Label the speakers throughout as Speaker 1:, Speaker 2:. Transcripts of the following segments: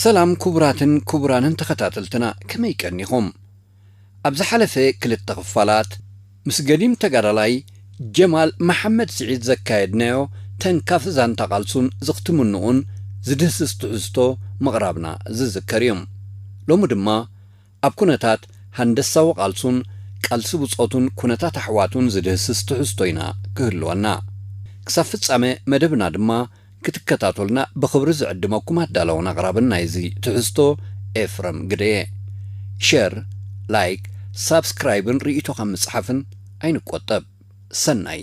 Speaker 1: ሰላም ኩቡራትን ኩቡራንን ተኸታተልትና ከመይ ቀኒኹም ኣብ ዝሓለፈ ክልተ ክፋላት ምስ ገዲም ተጋዳላይ ጀማል መሓመድ ስዒድ ዘካየድናዮ ተንካፊ ዛንታ ቃልሱን ዝኽትምንኡን ዝድህስስ ትሕዝቶ ምቕራብና ዝዝከር እዩ ሎሚ ድማ ኣብ ኩነታት ሃንደሳዊ ቃልሱን ቃልሲ ብጾቱን ኩነታት ኣሕዋቱን ዝድህስስ ትሕዝቶ ኢና ክህልወና። ክሳብ ፍጻመ መደብና ድማ ክትከታተሉና ብኽብሪ ዝዕድመኩም ኣዳላውን ኣቕራብን ናይዚ ትሕዝቶ ኤፍረም ግደየ። ሸር፣ ላይክ፣ ሳብስክራይብን ርኢቶኻ ምጽሓፍን ኣይንቆጠብ። ሰናይ!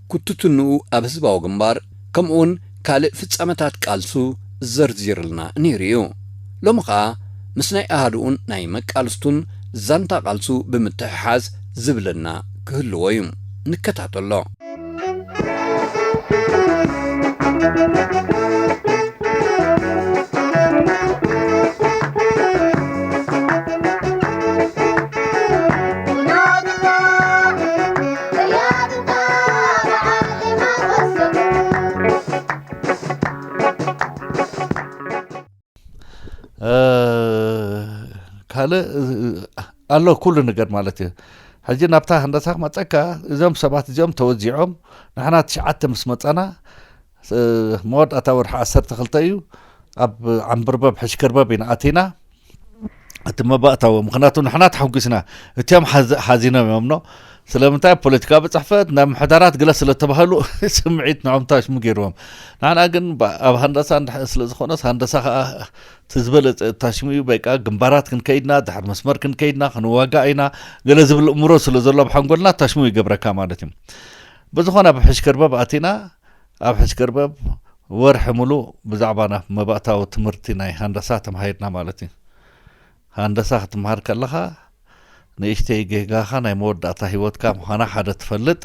Speaker 1: ኩትትንኡ ኣብ ህዝባዊ ግንባር ከምኡውን ካልእ ፍጻመታት ቃልሱ ዘርዚርልና ነይሩ ኢዩ። ሎሚ ከኣ ምስ ናይ ኣሃዱኡን ናይ መቃልስቱን ዛንታ ቃልሱ ብምትሕሓዝ ዝብለና ክህልዎ ኢዩ። ንከታተሎ።
Speaker 2: ካልእ ኣሎ ኩሉ ነገር ማለት እዩ ሕጂ ናብታ ህንዳሳ ክመፀካ እዞም ሰባት እዚኦም ተወዚዖም ንሕና ትሽዓተ ምስ መፃና እቲ መወዳእታ ወርሒ ዓሰርተ ክልተ እዩ ኣብ ዓምብርበብ ሕሽክርበብ ኢና ኣቲና እቲ መባእታዊ ምክንያቱ ንሕና ተሓጒስና እትም ሓዚኖም እዮም ኖ ስለምንታይ ፖለቲካዊ ፅሕፈት ናብ ምሕዳራት ግለ ስለተባህሉ ስምዒት ንዖም ታሽሙ ገይርዎም ንዓና ግን ኣብ ሃንደሳ እንድሕር ስለዝኾነስ ሃንደሳ ከዓ እቲ ዝበለፀ ታሽሙ እዩ በቃ ግንባራት ክንከይድና ድሕር መስመር ክንከይድና ክንዋጋእ ኢና ገለ ዝብል እምሮ ስለ ዘሎ ኣብ ሓንጎልና ታሽሙ ይገብረካ ማለት እዩ ብዝኾነ ኣብ ሕሽከርበብ ኣቲና ኣብ ሕስከርበብ ወርሒ ምሉእ ብዛዕባ ናብ መባእታዊ ትምህርቲ ናይ ሃንደሳ ተማሂርና ማለት እዩ። ሃንደሳ ክትምሃር ከለኻ ንእሽተይ ጌጋኻ ናይ መወዳእታ ህይወትካ ምዃና ሓደ ትፈልጥ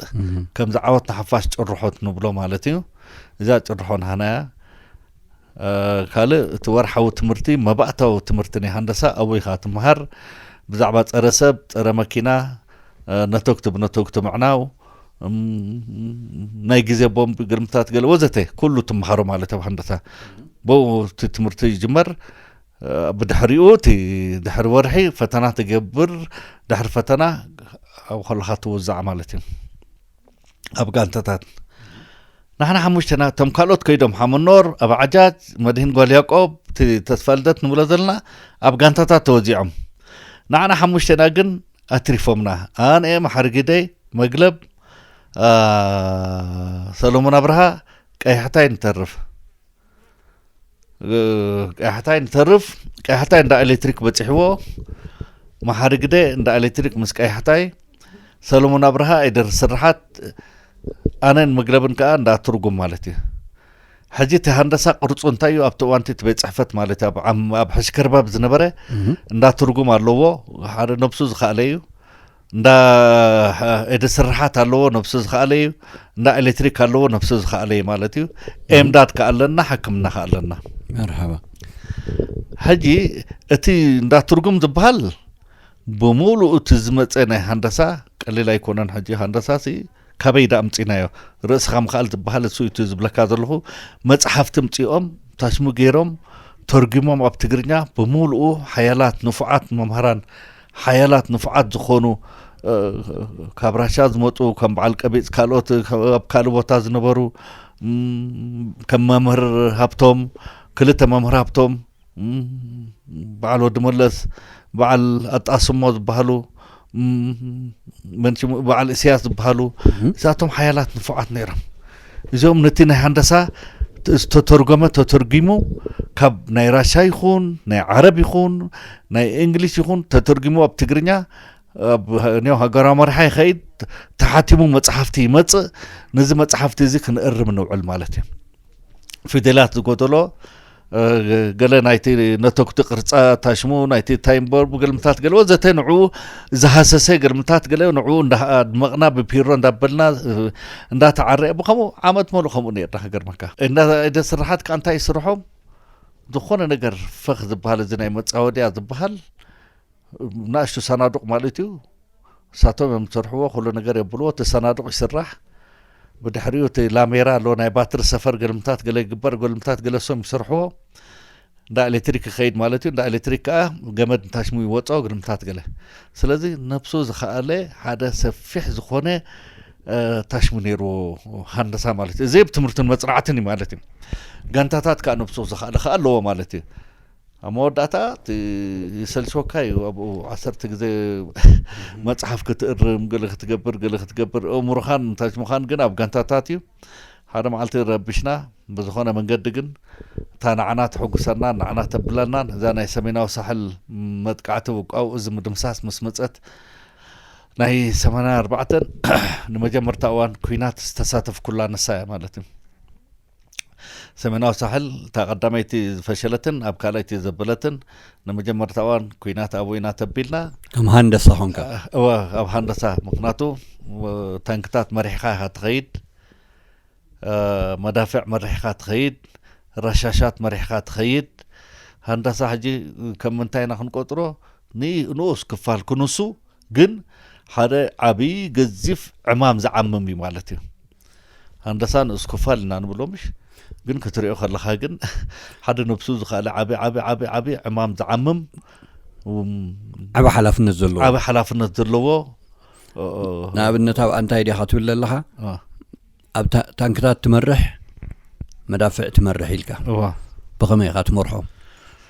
Speaker 2: ከምዚ ዓወት ንሓፋሽ ጭርሖት ንብሎ ማለት እዩ። እዛ ጭርሖ ናህና እያ። ካልእ እቲ ወርሓዊ ትምህርቲ መባእታዊ ትምህርቲ ናይ ሃንደሳ ኣበይ ኢኻ ትምሃር ብዛዕባ ጸረ ሰብ ጸረ መኪና ነቶግቲ ብነቶግቲ ምዕናው ናይ ግዜ ቦምብ ግርምታት ገለ ወዘተ ኩሉ ትምሃሮ ማለት ኣብ ሃንደሳ ብኡ እቲ ትምህርቲ ይጅመር ብድሕሪኡ እቲ ድሕሪ ወርሒ ፈተና ትገብር ድሕሪ ፈተና ኣብ ከለካ ትውዛዕ ማለት እዩ ኣብ ጋንታታት ንሕና ሓሙሽተና እቶም ካልኦት ከይዶም ሓመኖር ኣብ ዓጃጅ መድህን ጓል ያቆብ እቲ ተስፋ ልደት ንብሎ ዘለና ኣብ ጋንታታት ተወዚዖም ንዓና ሓሙሽተና ግን ኣትሪፎምና ኣንኤ መሓርጊደይ መግለብ ሰሎሞን ኣብርሃ ቀይሕታይ ንተርፍ ቀያሕታይ ንተርፍ ቀያሕታይ እንዳ ኤሌክትሪክ በፂሕዎ መሓሪ ግደ እንዳ ኤሌክትሪክ ምስ ቀያሕታይ ሰለሞን ኣብርሃ ኣይደር ስርሓት ኣነን መግለብን ከዓ እንዳ ትርጉም ማለት እዩ ሕጂ እቲ ሃንደሳ ቅርፁ እንታይ እዩ ኣብቲ እዋንቲ እቲ ቤት ፅሕፈት ማለት እዩ ኣብ ሕሽከርባብ ዝነበረ እንዳ ትርጉም ኣለዎ ሓደ ነብሱ ዝኸኣለ እዩ እንዳ ኤድ ስርሓት ኣለዎ ነብሱ ዝኸኣለ እዩ እንዳ ኤሌክትሪክ ኣለዎ ነብሱ ዝኸኣለ እዩ ማለት እዩ ኤምዳት ከ ኣለና ሕክምና ከ ኣለና መርሓባ ሕጂ እቲ እንዳ ትርጉም ዝበሃል ብምሉኡ እቲ ዝመፀ ናይ ሃንደሳ ቀሊል ኣይኮነን ሕጂ ሃንደሳ ሲ ካበይ ዳኣ ኣምጺናዮ ርእስኻ ምኽኣል ዝባሃል እሱ እዩ ዝብለካ ዘለኹ መጽሓፍቲ ኣምጺኦም ታሽሙ ገይሮም ተርጉሞም ኣብ ትግርኛ ብምሉኡ ሓያላት ንፉዓት መምህራን ሓያላት ንፉዓት ዝኾኑ ካብ ራሻ ዝመፁ ከም በዓል ቀቢፅ ካልኦት ኣብ ካልእ ቦታ ዝነበሩ ከም መምህር ሃብቶም ክልተ መምህር ሃብቶም በዓል ወዲ መለስ በዓል ኣጣስሞ ዝበሃሉ መንሽሙ በዓል እስያስ ዝበሃሉ እዛቶም ሓያላት ንፉዓት ነይሮም እዚኦም ነቲ ናይ ሃንደሳ ዝተተርጎመ ተተርጊሙ ካብ ናይ ራሻ ይኹን ናይ ዓረብ ይኹን ናይ እንግሊሽ ይኹን ተተርጊሙ ኣብ ትግርኛ ኒው ሃገራዊ መርሓ ይኸይድ ተሓቲሙ መፅሓፍቲ ይመፅእ ነዚ መፅሓፍቲ እዚ ክንእርም ንውዕል ማለት እዩ ፊደላት ዝጎደሎ ገለ ናይቲ ነተጉቲ ቅርጻ ታሽሙ ናይቲ ታይምቦር ብግልምታት ገለ ወዘተ ንዕኡ ዝሃሰሰ ግልምታት ገለ ንዕኡ እንዳድመቕና ብፒሮ እንዳበልና እንዳተዓረየ ብከምኡ ዓመት መሉ ከምኡ ነርና ክገርመካ እንዳ ስራሓት ከዓ እንታይ ይስርሖም ዝኾነ ነገር ፈኽ ዝበሃል እዚ ናይ መፃወድያ ዝበሃል ናእሽቱ ሳናዱቅ ማለት እዩ ንሳቶም እዮም ዝሰርሕዎ ኩሉ ነገር የብልዎ እቲ ሳናዱቅ ይስራሕ ብድሕሪኡ እቲ ላሜራ ኣሎ ናይ ባትሪ ሰፈር ገልምታት ገለ ይግበር ገልምታት ገለ ሰም ይሰርሕዎ እንዳ ኤሌክትሪክ ይኸይድ ማለት እዩ እንዳ ኤሌክትሪክ ከዓ ገመድ ንታሽሙ ይወፆ ግርምታት ገለ ስለዚ ነብሱ ዝኸኣለ ሓደ ሰፊሕ ዝኾነ ታሽሙ ነይሩ ሃንደሳ ማለት እዩ እዚ ብ ትምህርትን መፅናዕትን እዩ ማለት እዩ ጋንታታት ከዓ ነብሱ ዝኸኣለ ከዓ ኣለዎ ማለት እዩ ኣብ መወዳእታ እቲ ይሰልችወካ እዩ ኣብኡ ዓሰርተ ግዜ መጽሓፍ ክትእርም ገለ ክትገብር ገለ ክትገብር እእምሮኻን ታች ምዃን ግን ኣብ ጋንታታት እዩ ሓደ መዓልቲ ረብሽና ብዝኾነ መንገዲ ግን እታ ንዓና ተሕጉሰናን ንዓና ተብለናን እዛ ናይ ሰሜናዊ ሳሕል መጥቃዕቲ ውቃው እዚ ምድምሳስ ምስ መጸት ናይ ሰማንያ ኣርባዕተን ንመጀመርታ እዋን ኩናት ዝተሳተፍኩላ ንሳ እያ ማለት እዩ ሰሜናዊ ሳሕል እታ ቀዳመይቲ ዝፈሸለትን ኣብ ካልኣይቲ ዘበለትን ንመጀመርታ እዋን ኩናት ኣብኡ ኢና ተቢልና ከም ሃንደሳ
Speaker 1: ኮንካ እወ ኣብ ሃንደሳ
Speaker 2: ምክንያቱ ታንክታት መሪሕካ ኢካ ትኸይድ መዳፍዕ መሪሕካ ትኸይድ ረሻሻት መሪሕካ ትኸይድ ሃንደሳ ሕጂ ከም ምንታይ ኢና ክንቆፅሮ ንኡስ ክፋል ክንሱ ግን ሓደ ዓብዪ ገዚፍ ዕማም ዝዓምም እዩ ማለት እዩ ሃንደሳ ንኡስ ክፋል እና ንብሎ ምሽ ግን ክትሪኦ ከለኻ ግን ሓደ ነብሱ ዝኸኣለ ዓቢ ዓቢ ዓቢ ዓቢ ዕማም ዝዓምም
Speaker 1: ዓቢ ሓላፍነት ዘለዎ ዓቢ ሓላፍነት ዘለዎ
Speaker 2: ንኣብነት ኣብ ኣንታይ ዲኻ
Speaker 1: ትብል ዘለኻ ኣብ ታንክታት ትመርሕ መዳፍዕ ትመርሕ ኢልካ ብኸመይ ኢኻ ትመርሖ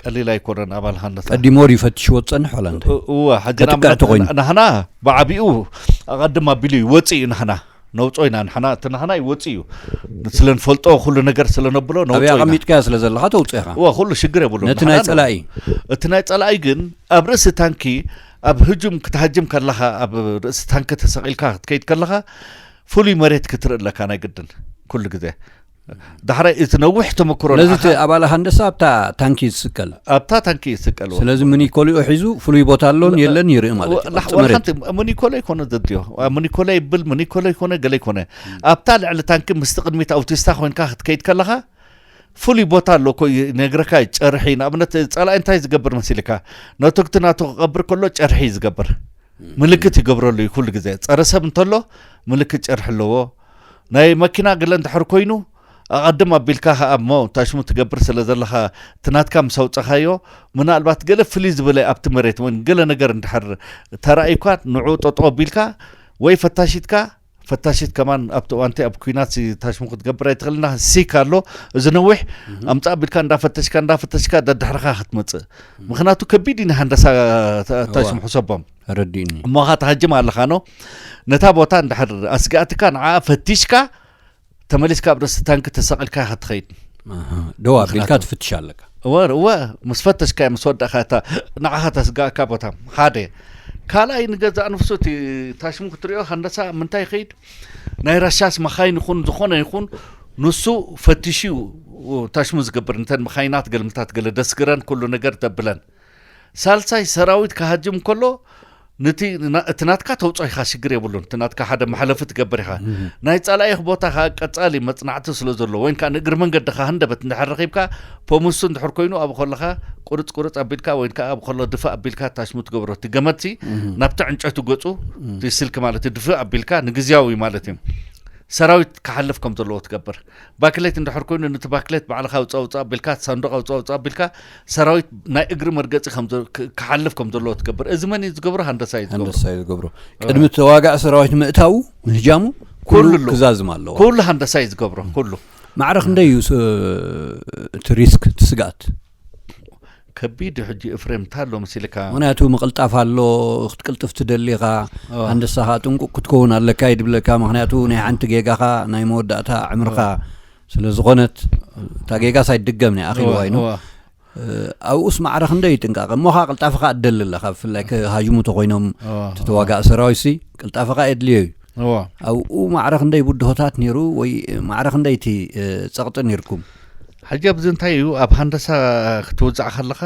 Speaker 2: ቀሊል ኣይኮነን ኣባል ሃንደሳ ቀዲሞ ድዩ ፈትሽዎ
Speaker 1: ዝፀንሕ ዋላ እንታይ እወ ሕጂ ከጥቅዕቲ ኮይኑ ናህና
Speaker 2: ብዓቢኡ ኣቐድም ኣቢሉ እዩ ወፅእ እዩ ናህና ነውፆ ኢና ንሕና እቲ ናህና ይወፅእ እዩ ስለ ንፈልጦ ኩሉ ነገር ስለ ነብሎ ነውፆ ኢና ኣቐሚጥካዮ ስለ
Speaker 1: ዘለካ ተውፅኦ ኢኻ እወ ኩሉ ሽግር የብሉ
Speaker 2: ነቲ ናይ ፀላኢ
Speaker 1: እቲ ናይ ፀላኢ
Speaker 2: ግን ኣብ ርእሲ ታንኪ ኣብ ህጁም ክትሃጅም ከለኻ ኣብ ርእሲ ታንኪ ተሰቒልካ ክትከይድ ከለኻ ፍሉይ መሬት ክትርኢ ኣለካ ናይ ግድን ኩሉ ግዜ ዳሕራይ እቲ ነዊሕ ተመክሮ ስለዚ እቲ ንዓኻ ኣባል ሃንደሳ
Speaker 1: ኣብታ ታንኪ እዩ ዝስቀል ኣብታ ታንኪ እዩ ዝስቀል ወዲ
Speaker 2: ስለዚ ሞይ። ምኒኮሊኡ ሒዙ
Speaker 1: ፍሉይ ቦታ ኣሎን የለን ይርኢ ማለት እዩ ላሕ- ኣብቲ ወላ መሬት ሓንቲ ሙኒኮለ ይኮነ
Speaker 2: ዘድዮ ሙኒኮለ ይብል ሙኒኮለ ይኮነ ገለ ይኮነ ኣብታ ልዕሊ ታንኪ ምስቲ ቅድሚት ኣውቲስታ ኮንካ ክትከይድ ከለኻ ፍሉይ ቦታ ኣሎ እኮ እዩ ነግረካ እዩ ጨርሒ ንኣብነት ጸላኢ እንታይ ዝገብር መሲልካ ነቶግቲ ናቱ ክቐብር ከሎ ጨርሒ እዩ ዝገብር ምልክት ይገብረሉ እዩ ኩሉ ግዜ ጸረ ሰብ እንተሎ ምልክት ጨርሒ ኣለዎ ናይ መኪና ገለ እንድሕር ኮይኑ ኣቐድም ኣቢልካ ከኣ እሞ ታሽሙ ትገብር ስለ ዘለኻ እቲ ናትካ ምስ ኣውጸኻዮ ምናልባት ገለ ፍልይ ዝበለ ኣብቲ መሬት ወን ገለ ነገር እንድሕር ተራእዩካ ንዕኡ ጠጠው ኣቢልካ ወይ ፈታሺትካ ፈታሽት ከማን ኣብቲ እዋንቲ ኣብ ኩናት ታሽሙ ክትገብር ኣይትኽእልና ሲክ ኣሎ እዚ ነዊሕ ኣምፃ ቢልካ እንዳፈተሽካ እንዳፈተሽካ ደድሕርካ ክትመፅእ ምክንያቱ ከቢድ እዩ ንሃንደሳ ታሽሙ ሕሰቦም ኣረዲኡኒ። እሞኻ
Speaker 1: ትሃጅም
Speaker 2: ኣለኻኖ ነታ ቦታ እንድሕር ኣስጋእትካ ንዓኣ ፈቲሽካ ተመሊስካ ኣብ ርእሲ ታንኪ ተሰቒልካ ኢኻ ትኸይድ
Speaker 1: ደዋ ኣቢልካ ትፍትሽ ኣለካ እወ እወ
Speaker 2: ምስ ፈተሽካ ምስ ወዳእካ እታ ንዓኻ ተስጋእካ ቦታ ሓደ ካልኣይ ንገዛእ ንፍሱ እቲ ታሽሙ ክትሪኦ ከንደሳ ምንታይ ይኸይድ ናይ ራሻስ መኻይን ይኹን ዝኾነ ይኹን ንሱ ፈትሹ ታሽሙ ዝገብር እንተን መኻይናት ገልምታት ገለ ደስግረን ኩሉ ነገር ተብለን ሳልሳይ ሰራዊት ክሃጅም ከሎ ነቲ እቲ ናትካ ተውፅኦ ኢኻ ሽግር የብሉን እቲ ናትካ ሓደ መሕለፊ ትገብር ኢኻ ናይ ፃላኢኽ ቦታ ከዓ ቀፃሊ መፅናዕቲ ስለ ዘሎ ወይን ከዓ ንእግሪ መንገድኻ ህንደበት እንድሕር ረኺብካ ፖምሱ እንድሕር ኮይኑ ኣብ ከለኻ ቁርፅ ቁርፅ ኣቢልካ ወይን ከዓ ኣብ ከሎ ድፍእ ኣቢልካ ታሽሙ ትገብሮ እቲ ገመድሲ ናብቲ ዕንጨቱ ገፁ ስልኪ ማለት ድፍእ ኣቢልካ ንግዜያዊ ማለት እዩ ሰራዊት ክሓልፍ ከም ዘለዎ ትገብር ባክሌት እንድሕር ኮይኑ ንቲ ባክሌት ባዕልኻ ኣውጽእ ኣውጽእ ኣቢልካ እቲ ሳንዱቕ ኣውጽእ ኣውጽእ ኣቢልካ ሰራዊት ናይ እግሪ መርገጺ ክሓልፍ ከም ዘለዎ ትገብር እዚ መን እዩ ዝገብሮ ሃንደሳ እዩ ሃንደሳ እዩ ዝገብሮ ቅድሚ ተዋጋእ
Speaker 1: ሰራዊት ምእታው ምህጃሙ ኩሉ ክዛዝም ኣለዎ ኩሉ ሃንደሳ እዩ ዝገብሮ
Speaker 2: ኩሉ ማዕረ ክንደይ እዩ
Speaker 1: እቲ ሪስክ እቲ ስግኣት
Speaker 2: ከቢድ እዩ ሕጂ እፍሬም እንታይ ኣሎ መሲልካ ምክንያቱ ምቕልጣፍ
Speaker 1: ኣሎ ክትቅልጥፍ ትደሊ ኢኻ ኣንደሳ ከዓ ጥንቁቕ ክትከውን ኣለካ እዩ ድብለካ ምክንያቱ ናይ ሓንቲ ጌጋኻ ናይ መወዳእታ ዕምርኻ ስለ ዝኾነት እታ ጌጋስ ኣይትድገምን እያ ኣኺልዋ ኢኑ ኣብኡስ ማዕረ ክንደይ እዩ ጥንቃቐ እሞ ከዓ ቅልጣፈኻ እትደሊ ኣለካ ብፍላይ ክሃጅሙ ተኮይኖም ተዋጋእ ሰራዊት ሲ ቅልጣፈኻ የድልዮ እዩ ኣብኡ ማዕረ ክንደይ ብድሆታት ነይሩ ወይ ማዕረ ክንደይ እቲ ፀቕጢ ነይርኩም ሕጂ ኣብዚ
Speaker 2: እንታይ እዩ ኣብ ሃንደሳ ክትውፃዕ ከለኻ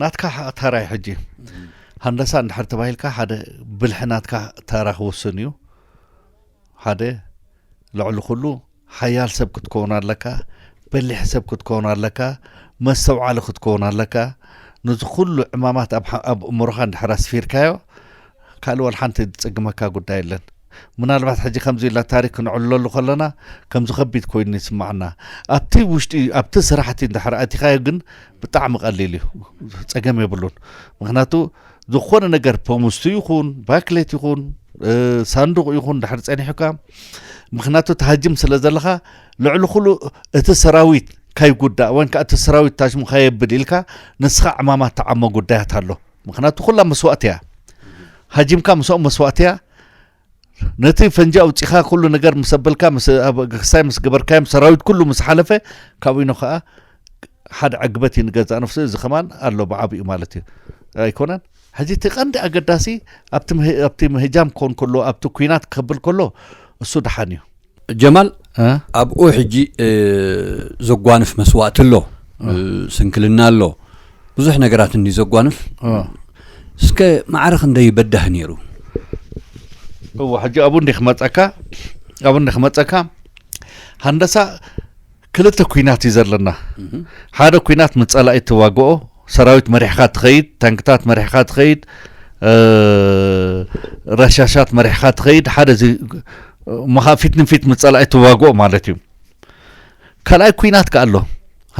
Speaker 2: ናትካ ተራይ ሕጂ ሃንደሳ እንድሕር ተባሂልካ ሓደ ብልሒ ናትካ ተራ ክውስን እዩ ሓደ ልዕሊ ኩሉ ሓያል ሰብ ክትከውን ኣለካ በሊሕ ሰብ ክትከውን ኣለካ መስተውዓሊ ክትከውን ኣለካ ነዚ ኩሉ ዕማማት ኣብ እምሮኻ እንድሕር ኣስፊርካዮ ካልእ ወላ ሓንቲ ዝጽግመካ ጉዳይ የለን። ምናልባት ሕጂ ከምዚ ኢልና ታሪክ ክንዕልለሉ ከለና ከምዚ ከቢድ ኮይኑ ይስማዓና ኣብቲ ውሽጢ ኣብቲ ስራሕቲ እንድሕር ኣቲኻዮ ግን ብጣዕሚ ቀሊል እዩ ጸገም የብሉን ምክንያቱ ዝኾነ ነገር ፖሙስቱ ይኹን ባክሌት ይኹን ሳንዱቕ ይኹን ድሕር ጸኒሑካ ምክንያቱ ተሃጅም ስለ ዘለኻ ልዕሊ ኩሉ እቲ ሰራዊት ካይጉዳእ ወይን ከዓ እቲ ሰራዊት ታሽሙ ካየብል ኢልካ ንስኻ ዕማማት ተዓሞ ጉዳያት ኣሎ ምክንያቱ ኩላ መስዋእቲ እያ ሃጂምካ ምስኦም መስዋእቲ እያ ነቲ ፈንጂ ኣውፂኻ ኩሉ ነገር ምስ ኣበልካ ክሳይ ምስ ገበርካዮም ሰራዊት ኩሉ ምስ ሓለፈ ካብኡ ኢኖ ከዓ ሓደ ዕግበት እዩ ንገዛእ ነፍሱ እዚ ከማን ኣሎ ብዓብኡ ማለት እዩ ኣይኮነን ሕዚ እቲ ቀንዲ ኣገዳሲ ኣብቲ ምህጃም ክኸውን ከሎ ኣብቲ ኩናት ክከብል ከሎ እሱ ድሓን እዩ ጀማል
Speaker 1: ኣብኡ ሕጂ ዘጓንፍ መስዋእቲ ኣሎ ስንክልና ኣሎ ብዙሕ ነገራት እንዲ ዘጓንፍ እስከ ማዕረ ክንደይ በዳህ ነይሩ
Speaker 2: እዎ ሕጂ ኣብኡ እንዲ ክመፀካ ኣብኡ እንዲ ክመፀካ ሃንደሳ ክልተ ኩናት እዩ ዘለና ሓደ ኩናት ምስ ጸላኢ ትዋግኦ ሰራዊት መሪሕካ ትኸይድ ታንክታት መሪሕካ ትኸይድ ረሻሻት መሪሕካ ትኸይድ ሓደ እዚ እሞ ከዓ ፊት ንፊት ምስ ጸላኢ ትዋግኦ ማለት እዩ ካልኣይ ኩናት ከዓ ኣሎ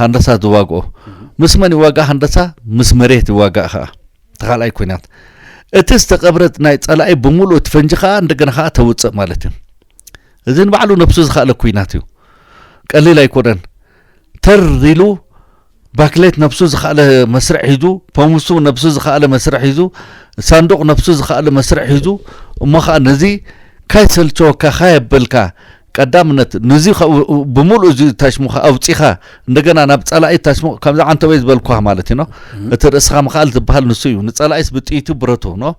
Speaker 2: ሃንደሳ ዝዋግኦ ምስ መን ይዋጋእ ሃንደሳ ምስ መሬት ይዋጋእ ከዓ እቲ ካልኣይ ኩናት እቲ ዝተቐብረ ናይ ጸላኢ ብምሉእ እቲ ፈንጂ ከዓ እንደገና ከዓ ተውፅእ ማለት እዩ እዚ ንባዕሉ ነብሱ ዝኸእለ ኩናት እዩ ቀሊል ኣይኮነን ተር ኢሉ ባክሌት ነብሱ ዝኸእለ መስርዕ ሒዙ ፖምሱ ነብሱ ዝኸእለ መስርዕ ሒዙ ሳንዱቕ ነብሱ ዝኸእለ መስርዕ ሒዙ እሞ ከዓ ነዚ ካይሰልቸወካ ካየበልካ ቀዳምነት ነዚ ብምሉእ እዚ ታሽሙካ ኣውፂኻ እንደገና ናብ ፀላኢ ታሽሙ ከምዚ ዓንተበይ ዝበልኳ ማለት እዩ ኖ እቲ ርእስኻ ምክኣል ዝበሃል ንሱ እዩ ንፀላኢስ ብጥይቱ ብረቱ ኖ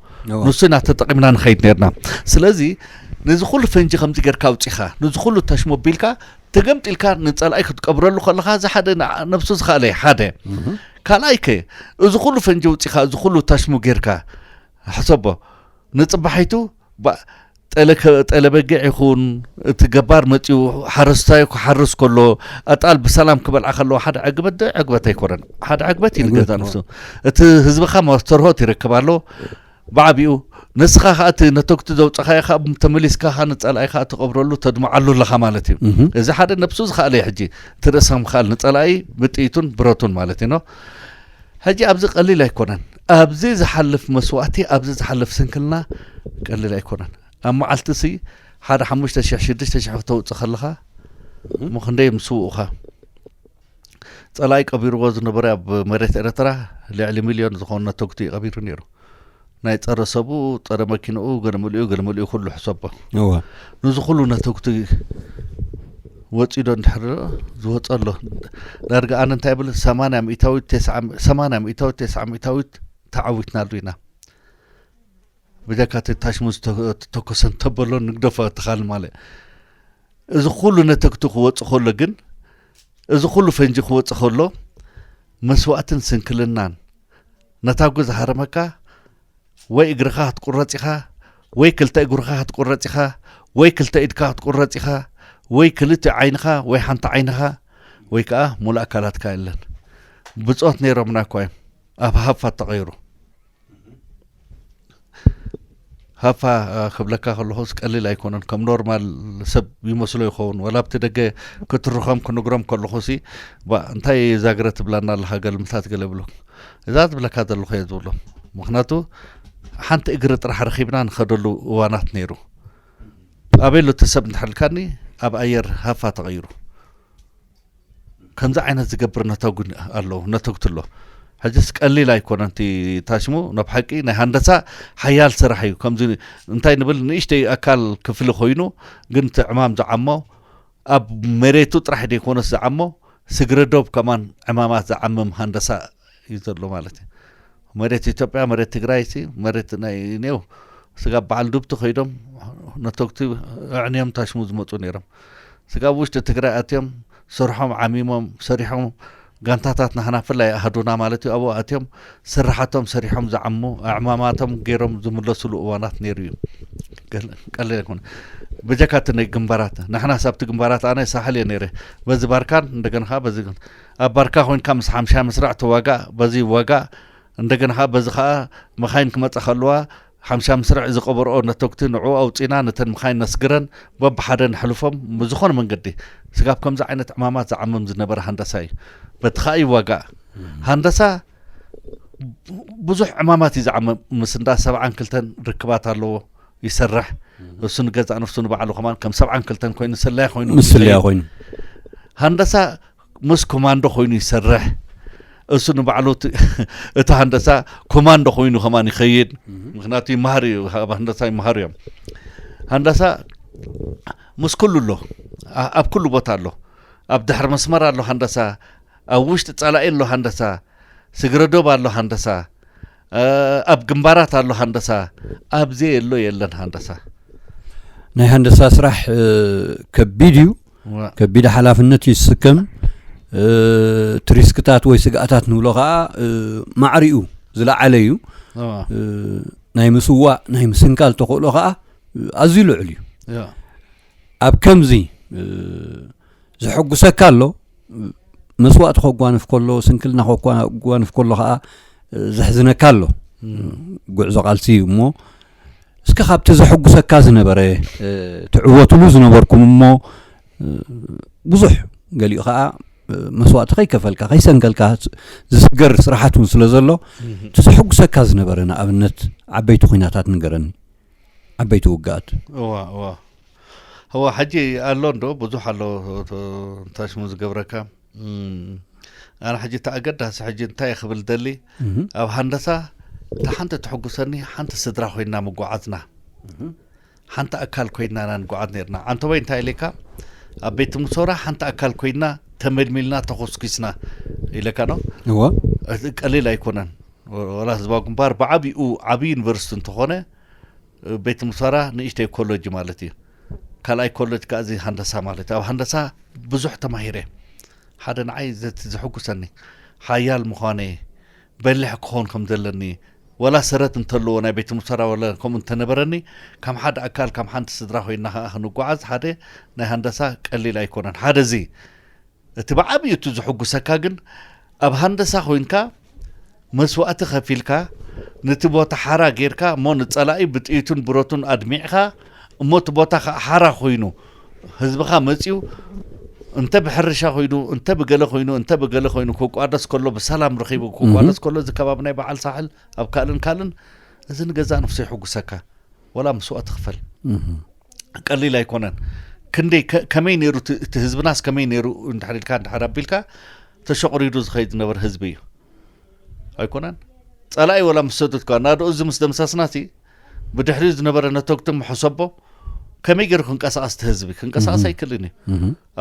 Speaker 2: ንሱ ኢና ተጠቂምና ንኸይድ ነርና ስለዚ ነዚ ኩሉ ፈንጂ ከምዚ ጌርካ ኣውጺኻ ነዚ ኩሉ ተሽሞ ኣቢልካ ተገምጢልካ ንጸላኢ ክትቀብረሉ ከለኻ እዚ ሓደ ነብሱ ዝኸኣለ እዩ ሓደ ካልኣይ ከ እዚ ኩሉ ፈንጂ ኣውጺኻ እዚ ኩሉ ተሽሙ ጌርካ ሕሰቦ ንጽባሒቱ ጠለበጊዕ ይኹን እቲ ገባር መፅኡ ሓረስታይ ክሓርስ ከሎ ኣጣል ብሰላም ክበልዓ ከለዎ ሓደ ዕግበት ዶ ዕግበት ኣይኮነን ሓደ ዕግበት እዩ ንገዛ ንሱ እቲ ህዝብኻ ማስተርሆት ይረክብ ኣሎ ብዓቢኡ ንስኻ ከኣ እቲ ነተጉቲ ዘውጻኻዮ ከኣ ተመሊስካ ከኣ ንጸላኢ ከኣ ትቐብረሉ ተድምዓሉ ኣለኻ ማለት እዩ እዚ ሓደ ነብሱ ዝኸኣለ እዩ ሕጂ እቲ ርእሰ ምኽኣል ንጸላኢ ብጥይቱን ብረቱን ማለት እዩ ኖ ሕጂ ኣብዚ ቀሊል ኣይኮነን ኣብዚ ዝሓልፍ መስዋእቲ ኣብዚ ዝሓልፍ ስንክልና ቀሊል ኣይኮነን ኣብ መዓልቲ ሲ ሓደ ሓሙሽተ ሽሕ ሽዱሽተ ሽሕ ክተውጽእ ከለኻ እሞ ክንደይ ምስውኡኻ ጸላኢ ቀቢርዎ ዝነበረ ኣብ መሬት ኤርትራ ልዕሊ ሚልዮን ዝኾኑ ነተጉቲ እዩ ቀቢሩ ነይሩ ናይ ጸረ ሰብኡ ጸረ መኪንኡ ገልምልኡ ገልምልኡ ኩሉ ሕሰቦ እወ ንዚ ኩሉ ነተጉቲ ወፂዶ እንድሕር ዝወፀ ኣሎ ዳርጋ ኣነ እንታይ ብል ሰማንያ ሚእታዊት ሰማንያ ሚእታዊት ተስዓ ሚእታዊት ተዓዊትናሉ ኢና ብጀካ እቲ ታሽሙ ዝተተኮሰን ተበሎ ንግደፎ ተኻል ማለት እዚ ኹሉ ነተግቱ ክወጽእ ከሎ ግን፣ እዚ ኹሉ ፈንጂ ክወጽእ ከሎ፣ መስዋእትን ስንክልናን፣ ነታጒ ዝሃረመካ ወይ እግርኻ ክትቁረጽ ኢኻ፣ ወይ ክልተ እግርኻ ክትቁረጽ ኢኻ፣ ወይ ክልተ ኢድካ ክትቁረጽ ኢኻ፣ ወይ ክልቲኡ ዓይንኻ ወይ ሓንቲ ዓይንኻ ወይ ከኣ ሙሉእ ኣካላትካ የለን። ብጾት ነይሮምና እኳ እዮም፣ ኣብ ሃፋ ተቐይሩ። ሃፋ ክብለካ ከለኹስ ቀሊል ኣይኮነን ከም ኖርማል ሰብ ይመስሎ ይኸውን ዋላ ኣብቲ ደገ ክትርኸም ክንግሮም ከለኹ ሲ እንታይ እዛ ግረ ትብላና ኣለካ ገልምታት ገለ ብሎ እዛ ዝብለካ ዘለኹ እየ ዝብሎ ምክንያቱ ሓንቲ እግሪ ጥራሕ ረኪብና ንኸደሉ እዋናት ነይሩ ኣበሎ እቲ ሰብ እንተሕልካኒ ኣብ ኣየር ሃፋ ተቐይሩ ከምዚ ዓይነት ዝገብር ነተጉ ኣሎ ነተጉቲ ኣሎ ሕጅስ ቀሊል ኣይኮነን እቲ ታሽሙ ናብ ሓቂ ናይ ሃንደሳ ሓያል ስራሕ እዩ ከምዚ እንታይ ንብል ንእሽተይ ኣካል ክፍሊ ኮይኑ ግን እቲ ዕማም ዝዓሞ ኣብ መሬቱ ጥራሕ ዘይኮነስ ዝዓሞ ስግረ ዶብ ከማን ዕማማት ዝዓምም ሃንደሳ እዩ ዘሎ ማለት እዩ መሬት ኢትዮጵያ መሬት ትግራይ ሲ መሬት ናይ ኔው ስጋብ በዓል ዱብቲ ከይዶም ነተግቲ ኣዕንዮም ታሽሙ ዝመፁ ነይሮም ስጋብ ውሽጢ ትግራይ ኣትዮም ስርሖም ዓሚሞም ሰሪሖም ጋንታታት ናህና ፍላይ ኣህዱና ማለት እዩ ኣብኡ ኣትዮም ስራሓቶም ሰሪሖም ዝዓሙ ኣዕማማቶም ገይሮም ዝምለስሉ እዋናት ነይሩ እዩ ቀለ ይኮነ በጀካ እቲ ናይ ግንባራት ንሕና ሳብቲ ግንባራት ኣነ ሳሕል እየ ነይረ በዚ ባርካን እንደገና ከዓ በዚ ኣብ ባርካ ኮንካ ምስ ሓምሻይ መስርዕ ትዋጋእ በዚ ይዋጋእ እንደገና ከኣ በዚ ከኣ መኻይን ክመጻ ከለዋ ሓምሻይ መስርዕ ዝቀበርኦ ነቶግቲ ንዑ ኣውጺና ነተን መኻይን ነስግረን በብሓደ ነሕልፎም ብዝኾነ መንገዲ ስጋብ ከምዚ ዓይነት ዕማማት ዝዓምም ዝነበረ ሃንዳሳ እዩ በቲ ከኣ ይዋጋእ ሃንዳሳ ብዙሕ ዕማማት እዩ ዝዓምም ምስ እንዳ ሰብዓን ክልተን ርክባት ኣለዎ ይሰርሕ እሱ ንገዛእ ነፍሱ ንባዕሉ ከማን ከም ሰብዓን ክልተን ኮይኑ ስለያ ኮይኑ ምስለያ ኮይኑ ሃንዳሳ ምስ ኮማንዶ ኮይኑ ይሰርሕ እሱ ንባዕሉ እቲ ሃንደሳ ኮማንዶ ኮይኑ ከማን ይኸይድ ምክንያቱ ይመሃር እዩ ኣብ ሃንደሳ ይመሃሩ እዮም ሃንደሳ ምስ ኩሉ ኣሎ ኣብ ኩሉ ቦታ ኣሎ ኣብ ድሕሪ መስመር ኣሎ ሃንደሳ ኣብ ውሽጢ ጸላኢ ኣሎ ሃንደሳ ስግረዶብ ኣሎ ሃንደሳ ኣብ ግንባራት ኣሎ ሃንደሳ ኣብ ዘየሎ የለን ሃንደሳ
Speaker 1: ናይ ሃንደሳ ስራሕ ከቢድ እዩ ከቢድ ሓላፍነት እዩ ዝስከም እቲ ሪስክታት ወይ ስግኣታት ንብሎ ከዓ ማዕሪኡ ዝለዓለ እዩ ናይ ምስዋእ ናይ ምስንካል ተኽእሎ ከዓ ኣዝዩ ልዑል እዩ ኣብ ከምዚ ዘሐጉሰካ ኣሎ መስዋእቲ ከጓንፍ ከሎ ስንክልና ከጓንፍ ከሎ ከዓ ዘሕዝነካ ኣሎ ጉዕዞ ቃልሲ እዩ እሞ እስከ ካብቲ ዘሐጉሰካ ዝነበረ ትዕወትሉ ዝነበርኩም እሞ ብዙሕ ገሊኡ ከዓ መስዋእቲ ከይከፈልካ ከይሰንከልካ ዝስገር ስራሓት እውን ስለ ዘሎ እቲ ዘሐጉሰካ ዝነበረ ንኣብነት ዓበይቲ ኩናታት ንገረኒ ዓበይቲ ውግኣት እዋ እዋ
Speaker 2: እዋ ሕጂ ኣሎ እንዶ ብዙሕ ኣሎ ታሽሙ ዝገብረካ ኣነ ሕጂ እቲ ኣገዳሲ ሕጂ እንታይ እየ ክብል ደሊ ኣብ ሃንደሳ እታ ሓንቲ ትሕጉሰኒ ሓንቲ ስድራ ኮይና ምጓዓዝና ሓንቲ ኣካል ኮይና ኢና ንጓዓዝ ነርና ዓንተበይ እንታይ ኢለካ ኣብ ቤት ምሶራ ሓንቲ ኣካል ኮይና ተመልሚልና ተኾስኪስና ኢለካ ዶ እዋ
Speaker 1: ቀሊል
Speaker 2: ኣይኮነን ወላ ህዝባዊ ግንባር ብዓቢኡ ዓቢ ዩኒቨርሲቲ እንተኾነ ቤት ትምህርታራ ንእሽተይ ኮለጅ ማለት እዩ ካልኣይ ኮለጅ ከዓ እዚ ሃንደሳ ማለት ኣብ ሃንደሳ ብዙሕ ተማሂረ ሓደ ንዓይ ዘቲ ዘሕጉሰኒ ሓያል ምዃነ በሊሕ ክኾን ከም ዘለኒ ወላ ሰረት እንተለዎ ናይ ቤት ሙሰራ ወለ ከምኡ እንተነበረኒ ከም ሓደ ኣካል ከም ሓንቲ ስድራ ኮይና ከዓ ክንጓዓዝ ሓደ ናይ ሃንደሳ ቀሊል ኣይኮነን ሓደ እዚ እቲ ብዓቢኡ እቲ ዝሕጉሰካ ግን ኣብ ሃንደሳ ኮይንካ መስዋእቲ ከፊልካ ነቲ ቦታ ሓራ ጌርካ እሞ ንጸላኢ ብጥይቱን ብረቱን ኣድሚዕካ እሞ እቲ ቦታ ከኣ ሓራ ኮይኑ ህዝብኻ መጺኡ እንተ ብሕርሻ ኮይኑ እንተ ብገለ ኮይኑ እንተ ብገለ ኮይኑ ክቋደስ ከሎ ብሰላም ረኺቡ ክቋደስ ከሎ እዚ ከባቢ ናይ በዓል ሳሕል ኣብ ካልእን ካልእን እዚ ንገዛእ ነፍሱ የሕጉሰካ ወላ መስዋእቲ ክፈል ቀሊል ኣይኮነን ክንደይ ከመይ ነይሩ እቲ ህዝብናስ ከመይ ነይሩ እንድሕር ኢልካ እንድሕር ኣቢልካ ተሸቑሪዱ ዝኸይድ ዝነበረ ህዝቢ እዩ ኣይኮነን ጸላኢ ወላ ምስ ሰዱትካ ናደኡ እዚ ምስ ደምሳስናሲ ብድሕሪኡ ዝነበረ ነተግቲ ምሕሰቦ ከመይ ገይሩ ክንቀሳቐስ እቲ ህዝቢ ክንቀሳቐስ ኣይክልን እዩ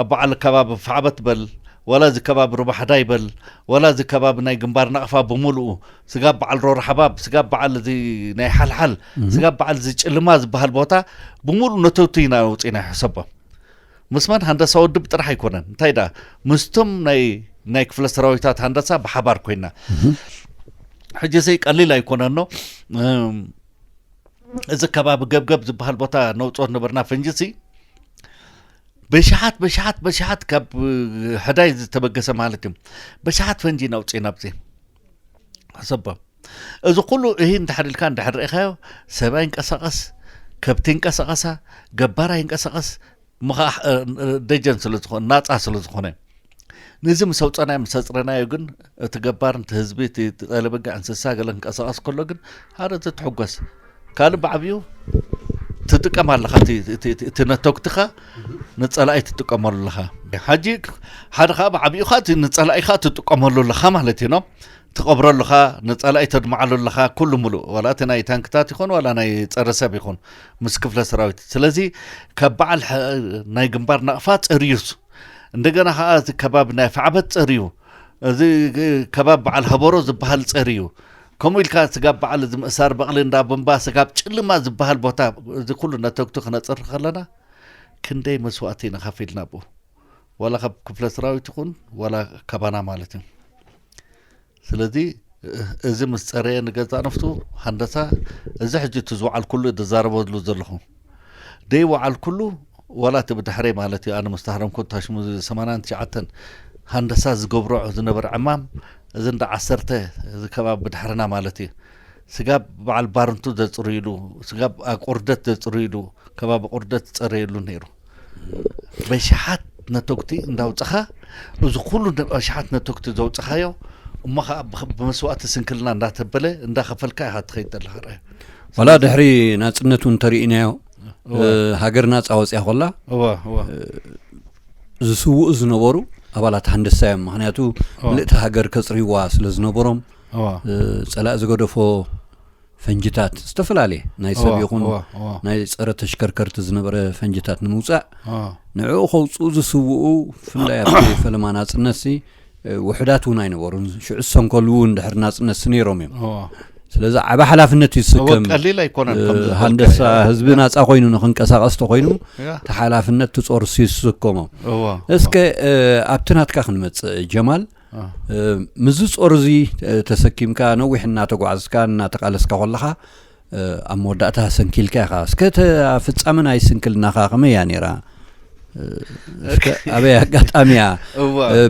Speaker 2: ኣብ በዓል ከባቢ ፋዕበት በል ዋላ እዚ ከባቢ ሩባ ሓዳይ በል ዋላ እዚ ከባቢ ናይ ግንባር ናቕፋ ብምሉኡ ስጋብ በዓል ሮርሓባብ ስጋብ በዓል እዚ ናይ ሓልሓል ስጋብ በዓል እዚ ጭልማ ዝበሃል ቦታ ብምሉኡ ነተውቲ ኢና ውፅኢና ይሕሰቦ ምስ መን ሃንደሳ ወድብ ጥራሕ ኣይኮነን እንታይ ደኣ ምስቶም ናይ ናይ ክፍለ ሰራዊታት ሃንደሳ ብሓባር ኮይና ሕጂ እዚ ቀሊል ኣይኮነኖ እዚ ከባቢ ገብገብ ዝበሃል ቦታ ነውፅኦ ዝነበርና ፈንጂ ሲ በሽሓት በሽሓት በሽሓት ካብ ሕዳይ ዝተበገሰ ማለት እዩ በሽሓት ፈንጂ ናውፅእ ናብዚ ሕሰቦ እዚ ኩሉ እሂ እንድሕር ኢልካ እንድሕር ርኢኻዮ ሰብ ኣይንቀሳቐስ ከብቲ ይንቀሳቐሳ ገባር ኣይንቀሳቐስ ደጀን ስለ ዝኾነ ናፃ ስለ ዝኾነ እዩ ነዚ ምስ ኣውፀናዮ ምስ ኣፅረናዮ ግን እቲ ገባር እቲ ህዝቢ እቲ ጠለበጋ እንስሳ ገለ ክንቀሳቀስ ከሎ ግን ሓደ ትትሕጎስ ካልእ ብዓብኡ ትጥቀም ኣለኻ እቲ ነተጉትኻ ንፀላኢ ትጥቀመሉ ኣለኻ ሓጂ ሓደ ከዓ ብዓብኡ ከዓ እቲ ንፀላኢኻ ትጥቀመሉ ኣለኻ ማለት እዩ ኖ ትቐብሮ ኣለኻ ንፀላኢ ተድምዓሉ ኣለኻ ኩሉ ሙሉእ ዋላ እቲ ናይ ታንክታት ይኹን ዋላ ናይ ፀረ ሰብ ይኹን ምስ ክፍለ ሰራዊት ስለዚ ካብ በዓል ናይ ግንባር ናቕፋ ፀርዩስ እንደገና ከኣ እዚ ከባቢ ናይ ኣፍዓበት ጸርዩ እዚ ከባቢ በዓል ሀበሮ ዝበሃል ጸርዩ ከምኡ ኢልካ ስጋብ በዓል እዚ ምእሳር በቕሊ እንዳ ብምባ ስጋብ ጭልማ ዝበሃል ቦታ እዚ ኩሉ ነተግቱ ክነጽር ከለና ክንደይ መስዋእቲ ኢና ከፊልና ብኡ ዋላ ካብ ክፍለ ሰራዊት ይኹን ዋላ ካባና ማለት እዩ ስለዚ እዚ ምስ ጸረየ ንገዛእ ነፍሱ ሃንደሳ እዚ ሕጂ እቲ ዝወዓልኩሉ ዝዛረበሉ ዘለኹ ደይወዓልኩሉ ዋላ እቲ ብድሕረይ ማለት እዩ ኣነ ምስ ተሃረምኩ ታሽሙ ሰማንያን ትሽዓተን ሃንደሳ ዝገብሮ ዝነበረ ዕማም እዚ እንዳ ዓሰርተ እዚ ከባቢ ብድሕርና ማለት እዩ ስጋብ በዓል ባርንቱ ዘጽርይሉ ስጋብ ቁርደት ዘጽርይሉ ከባቢ ቁርደት ዝጸረየሉ ነይሩ በሽሓት ነተጉቲ እንዳውፅኻ እዚ ኩሉ ኣሽሓት ነተጉቲ ዘውፅኻዮ እሞ ከዓ ብመስዋእቲ ስንክልና እንዳተበለ እንዳኸፈልካ ኢኻ ትኸይድ ዘለኻ ርኣዩ ዋላ ድሕሪ
Speaker 1: ናፅነት እውን ተርእናዮ ሃገር ናፃ ወፅያ ኮላ ዝስውኡ ዝነበሩ ኣባላት ሃንደሳ እዮም ምክንያቱ ምልእቲ ሃገር ከፅርይዋ ስለ ዝነበሮም ፀላእ ዝገደፎ ፈንጅታት ዝተፈላለየ ናይ ሰብ ይኹን ናይ ፀረ ተሽከርከርቲ ዝነበረ ፈንጅታት ንምውፃእ ንዕኡ ከውፅኡ ዝስውኡ ብፍላይ ኣብቲ ፈለማ ናፅነት ሲ ውሕዳት እውን ኣይነበሩን ሽዑ ዝሰንከሉ እውን ድሕሪ ናፅነት ሲ ነይሮም እዮም ስለዚ ዓበ ሓላፍነት እዩ ዝስከም ቀሊል ኣይኮነን
Speaker 2: ሃንደሳ
Speaker 1: ህዝቢ ናፃ ኮይኑ ንክንቀሳቀስ ተኮይኑ እቲ ሓላፍነት ትፆርሲ ዝስከሞ እስከ ኣብቲ ናትካ ክንመፅእ ጀማል ምስዚ ጾር እዚ ተሰኪምካ ነዊሕ እናተጓዓዝካ እናተቃለስካ ኮለኻ ኣብ መወዳእታ ሰንኪልካ ኢኻ እስከ ፍጻመ ናይ ስንክልናኻ ከመይ እያ ነይራ ኣበይ ኣጋጣሚ እያ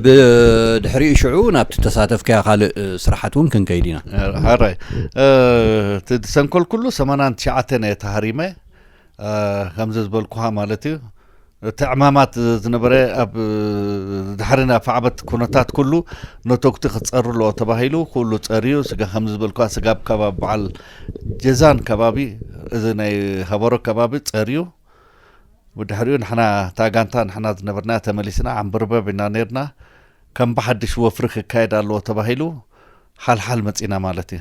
Speaker 1: ብድሕሪኡ ሽዑ ናብቲ ተሳተፍካያ ካልእ ስራሓት እውን ክንከይድ ኢና
Speaker 2: ሃራይ ሰንኮል ኩሉ ሰማናን ትሽዓተን እየ ተሃሪመ ከምዚ ዝበልኩኻ ማለት እዩ እቲ ዕማማት ዝነበረ ኣብ ድሕሪ ናይ ፋዕበት ኩነታት ኩሉ ነቶግቲ ክጸሩ ኣለዎ ተባሂሉ ኩሉ ጸርዩ ስጋ ከም ዝበልኳ ስጋ ኣብ ከባቢ በዓል ጀዛን ከባቢ እዚ ናይ ሃበሮ ከባቢ ጸርዩ ብድሕሪኡ ንሕና እታ ጋንታ ንሕና ዝነበርና ተመሊስና ዓምበርበብ ኢና ነርና ከም ብሓድሽ ወፍሪ ክካየድ ኣለዎ ተባሂሉ ሓልሓል መጺና ማለት እዩ።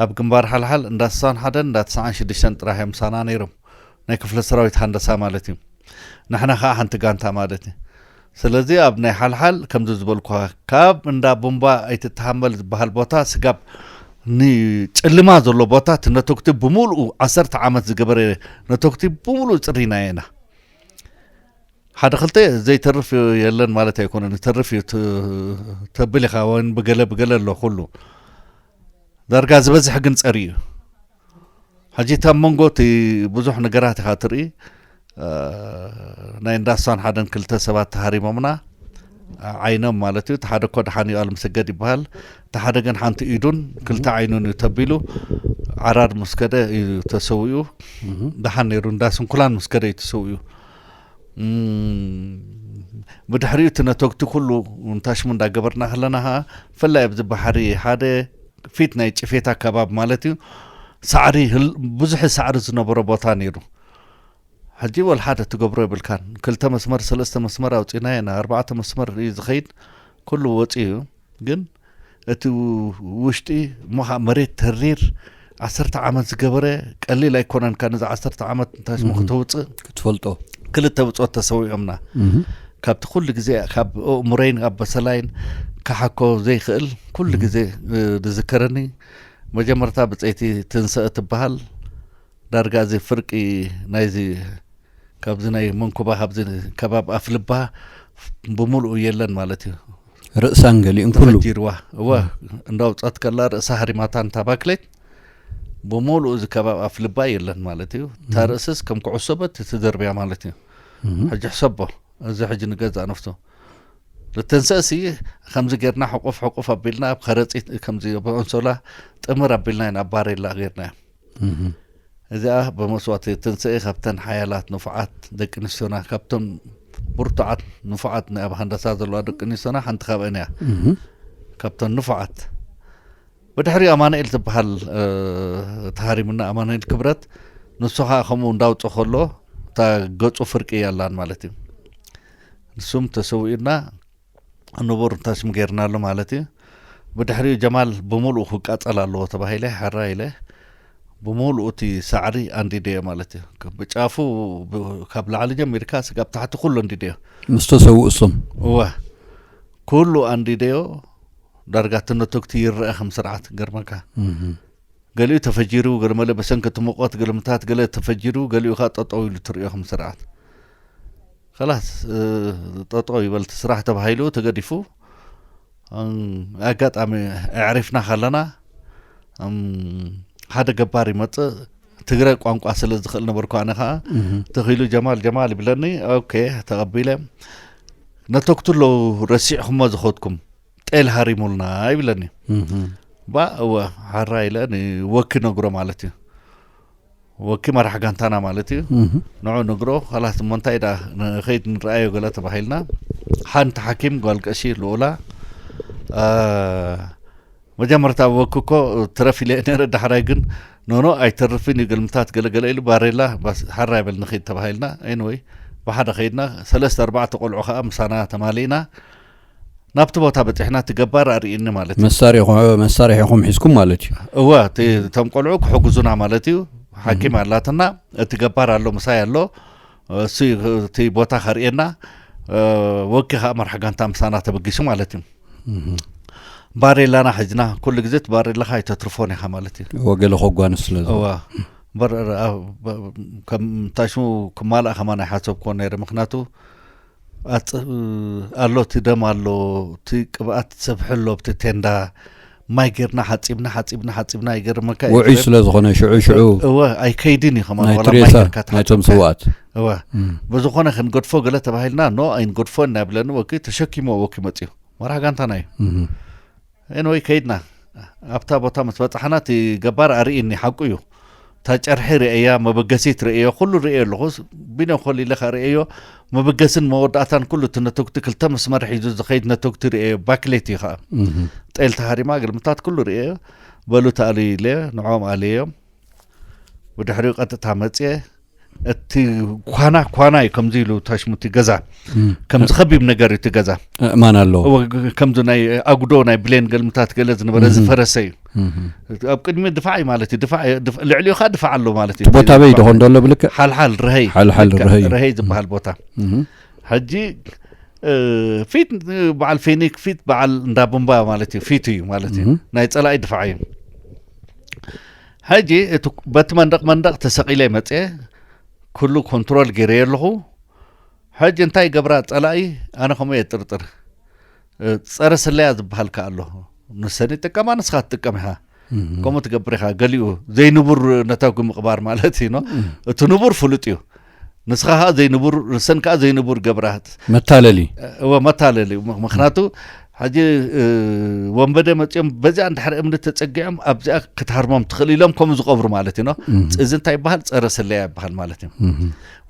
Speaker 2: ኣብ ግንባር ሓልሓል እንዳ ስሳን ሓደን እንዳ ትስዓን ሽዱሽተን ጥራሕ እዮም ምሳና ነይሮም። ናይ ክፍለ ሰራዊት ሃንደሳ ማለት እዩ። ንሕና ከኣ ሓንቲ ጋንታ ማለት እዩ። ስለዚ ኣብ ናይ ሓልሓል ከምዚ ዝበልኩኻ ካብ እንዳ ቡምባ ኣይትተሃመል ዝበሃል ቦታ ስጋብ ንጨልማ ዘሎ ቦታ እቲ ነቶግቲ ብምሉኡ ዓሰርተ ዓመት ዝገበረ ነቶግቲ ብምሉኡ ጽሪናዮ ኢና። ሓደ ክልተ ዘይተርፍ የለን ማለት ኣይኮነን ይተርፍ እዩ ተብል ኢኻ ወይን ብገለ ብገለ ኣሎ ኩሉ ዳርጋ ዝበዝሐ ግን ጸሪ እዩ ሕጂ እታ መንጎ እቲ ብዙሕ ነገራት ኢኻ ትርኢ ናይ እንዳሳን ሓደን ክልተ ሰባት ተሃሪሞምና ዓይኖም ማለት እዩ እቲ ሓደ እኮ ደሓን ዩኣል ምስገድ ይበሃል እቲ ሓደ ግን ሓንቲ ኢዱን ክልተ ዓይኑን እዩ ተቢሉ ዓራር ምስ ከደ እዩ ተሰዊኡ ደሓን ነይሩ እንዳ ስንኩላን ምስ ከደ እዩ ተሰዊኡ ብድሕሪኡ እቲ ነተግቲ ኩሉ እንታሽሙ እንዳገበርና ከለና ከዓ ፍላይ ኣብዚ ባሕሪ ሓደ ፊት ናይ ጭፌት ኣከባቢ ማለት እዩ ሳዕሪ ብዙሕ ሳዕሪ ዝነበሮ ቦታ ነይሩ ሕጂ ወል ሓደ ትገብሮ የብልካን ክልተ መስመር ሰለስተ መስመር ኣውፂናየና ኣርባዕተ መስመር እዩ ዝኸይድ ኩሉ ወፂኡ እዩ ግን እቲ ውሽጢ እሞ ከኣ መሬት ተሪር ዓሰርተ ዓመት ዝገበረ ቀሊል ኣይኮነን ካ ነዚ ዓሰርተ ዓመት እንታይ ስሙ ክተውፅእ ክትፈልጦ
Speaker 1: ክልተ ብፆት
Speaker 2: ተሰዊኦምና ካብቲ ኩሉ ግዜ ካብ እሙረይን ኣብ በሰላይን ክሓኮ ዘይክእል ኩሉ ግዜ ዝዝከረኒ መጀመርታ ብፀይቲ ትንሰእ ትበሃል ዳርጋ እዚ ፍርቂ ናይዚ ካብዚ ናይ መንኩባ ካብዚ ከባብ ኣፍልባ ብምሉኡ የለን ማለት እዩ ርእሳን ገሊኡን
Speaker 1: ኩሉ ተፈጂርዋ እወ
Speaker 2: እንዳውፀት ከላ ርእሳ ሃሪማታ እንታ ባክሌት ብምሉኡ እዚ ከባብ ኣፍልባ የለን ማለት እዩ እታ ርእስስ ከም ኩዕሶ በት ትድርብያ ማለት እዩ ሕጂ ሕሰቦ እዚ ሕጂ ንገዛእ ነፍሱ ልትንሰእሲ ከምዚ ጌርና ሕቁፍ ሕቁፍ ኣቢልና ኣብ ከረፂት ከምዚ ኣንሶላ ጥምር ኣቢልና ኢና ኣብ ባሬላ ጌርና እዮም እዚኣ ብመስዋእቲ ትንስኤ ካብተን ሓያላት ንፉዓት ደቂ ኣንስትዮና ካብቶም ብርቱዓት ንፉዓት ናይ ኣብ ሃንዳሳ ዘለዋ ደቂ ኣንስትዮና ሓንቲ ካብአን እያ ካብተን ንፉዓት ብድሕሪ ኣማንኤል ዝበሃል ተሃሪሙና ኣማንኤል ክብረት ንሱ ከዓ ከምኡ እንዳውፅ ከሎ እታ ገፁ ፍርቂ እያላን ማለት እዩ ንሱም ተሰዊኡና ንቡር ተስም ጌርናሉ ማለት እዩ ብድሕሪኡ ጀማል ብምሉኡ ክቃጸል ኣለዎ ተባሂለ ሕራይ ኢለ ብምሉኡ እቲ ሳዕሪ ኣንዲደዮ ማለት እዩ ብጫፉ ካብ ላዕሊ ጀሚርካ ስጋብ ታሕቲ ኩሉ ኣንዲደዮ ምስ ተሰውኡ እሶም
Speaker 1: እወ
Speaker 2: ኩሉ ኣንዲደዮ ዳርጋ ትንትግቲ ይረአ ከም ስርዓት ገርመካ ገሊኡ ተፈጂሩ ገለመለ በሰንኪ እቲ ሙቐት ግርምታት ገለ ተፈጂሩ ገሊኡ ከ ጠጠው ኢሉ ትርእዮ ከም ስርዓት ከላስ ጠጠው ይበልቲ ስራሕ ተባሂሉ ተገዲፉ ኣጋጣሚ ኣዕሪፍና ካለና ሓደ ገባር ይመፅእ ትግረ ቋንቋ ስለ ዝኽእል ነበርኩ ኣነ ከዓ ተኺሉ ጀማል ጀማል ይብለኒ ኦኬ ተቐቢለ ነተክቱ ኣለዉ ረሲዕኹሞ ዝኸድኩም ጤል ሃሪሙልና ይብለኒ ባ እወ ሓራ ኢለ ወኪ ነግሮ ማለት እዩ ወኪ መራሕ ጋንታና ማለት እዩ ንዑ ነግሮ ካላት እሞ እንታይ ዳ ንኸይድ ንረኣዮ ገለ ተባሂልና ሓንቲ ሓኪም ጓል ቀሺ ልኡላ መጀመርታ ወኪ እኮ ትረፍ ኢለ ነረ ዳሕራይ ግን ኖኖ ኣይተርፍን እዩ ገልምታት ገለገለ ኢሉ ባሬላ ሓራ ይበል ንኸይድ ተባሂልና ኤንወይ ብሓደ ከይድና ሰለስተ ኣርባዕተ ቆልዑ ከዓ ምሳና ተማሊእና ናብቲ ቦታ በፂሕና እቲ ገባር ኣርእኒ ማለት እዩ መሳሪኹ- መሳርሒኹም
Speaker 1: ሒዝኩም ማለት እዩ እወ እቲ እቶም
Speaker 2: ቆልዑ ክሕግዙና ማለት እዩ ሓኪም ኣላትና እቲ ገባር ኣሎ ምሳይ ኣሎ እሱ እዩ እቲ ቦታ ከርእየና እ፣ ወኪ ከዓ መርሒ ጋንታ ምሳና ተበጊሱ ማለት እዩ ባሬላና ሕጅና ኩሉ ግዜ እቲ ባሬላኻ ኣይተትርፎን ኢኻ ማለት እዩ እወ ገለ ከጓንፍ ስለ
Speaker 1: ዝኸ- እዋ በር-
Speaker 2: ኣብ- ብ- ከም እንታይ ሽሙ ክማልኣ ከማን ኣይሓሰብኩዎ ነይረ ምክንያቱ ኣጽብ ኣሎ እቲ ደም ኣሎ እቲ ቅብኣት ዝሰፍሐ ኣሎ ኣብቲ ቴንዳ ማይ ጌርና ሓጺብና ሓጺብና ሓጺብና ይገርመካ እዩ ውዑይ ስለ ዝኾነ ሽዑ
Speaker 1: ሽዑ እወ ኣይከይድን
Speaker 2: እዩ ከማን ናይ ዋላ ማይ ትሬሳ ጌርካ ናይቶም
Speaker 1: ተሓጽብካ ስውኣት እወ
Speaker 2: እም። ብዝኾነ ክንገድፎ ገለ ተባሂልና ኖ ኣይንገድፎን ኢና ይብለኒ ወኪ ተሸኪምዎ ወኪ መጺኡ መራሕ ጋንታና እዩ እም። Anyway ከይድና ኣብታ ቦታ ምስ በጻሕና እቲ ገባር ኣርእይኒ ሓቁ እዩ እታ ጨርሒ ርእያ መበገሲት ርእዮ ኩሉ ርእዮ ኣለኹ ቢኖ ኮል ኢለ ርእዮ መበገስን መወዳእታን ኩሉ እቲ ነተጉቲ ክልተ መስመር ሒዙ ዝኸይድ ነተጉቲ ርእዮ ባክሌት እዩ ከዓ ጤል ተሃሪማ ግልምታት ኩሉ ርእዮ በሉ ተኣልዩ ኢለ ንዕኦም ኣለዮም ብድሕሪኡ ቀጥታ መፅየ እቲ ኳና ኳና እዩ ከምዚ ኢሉ ታሽሙ እቲ ገዛ ከም ዝኸቢብ ነገር እዩ እቲ ገዛ ማን ኣለዎ
Speaker 1: ከምዚ ናይ
Speaker 2: ኣጉዶ ናይ ብሌን ገልምታት ገለ ዝነበረ ዝፈረሰ እዩ ኣብ ቅድሚ ድፋዕ እዩ ማለት እዩ ልዕሊኡ ከዓ ድፋዕ ኣሎ ማለት እዩ ቦታ በይ ደኾን ደሎ
Speaker 1: ብልክዕ ሓልሓል ርሀይ ሓልሓል
Speaker 2: ርሀይ ርሀይ ዝበሃል ቦታ ሕጂ ፊት በዓል ፌኒክ ፊት በዓል እንዳ ቡምባ ማለት እዩ ፊት እዩ ማለት እዩ ናይ ፀላኢ ድፋዕ እዩ ሕጂ እቲ በቲ መንደቕ መንደቕ ተሰቒለ መጽየ ኩሉ ኮንትሮል ገይረዮ ኣለኹ ሕጂ እንታይ ገብራ ጸላኢ ኣነ ከምኡ እየ ጥርጥር ጸረ ስለያ ዝበሃል ከ ኣሎ ንሰን ይጥቀማ ንስኻ ትጥቀም ኢኻ ከምኡ ትገብር ኢኻ ገሊኡ ዘይንቡር ነታጒ ምቕባር ማለት እዩ እቲ ንቡር ፍሉጥ እዩ ንስኻ ከኣ ዘይንቡር ንሰን ከኣ ዘይንቡር ገብራት መታለሊ
Speaker 1: እወ መታለሊ
Speaker 2: ምክንያቱ ሕጂ ወንበደ መፅኦም በዚኣ እንድሕሪ እምኒ ተፀጊዖም ኣብዚኣ ክትሃርሞም ትኽእል ኢሎም ከምኡ ዝቐብሩ ማለት እዩ እዚ እንታይ ይበሃል ፀረ ስለያ ይበሃል ማለት እዩ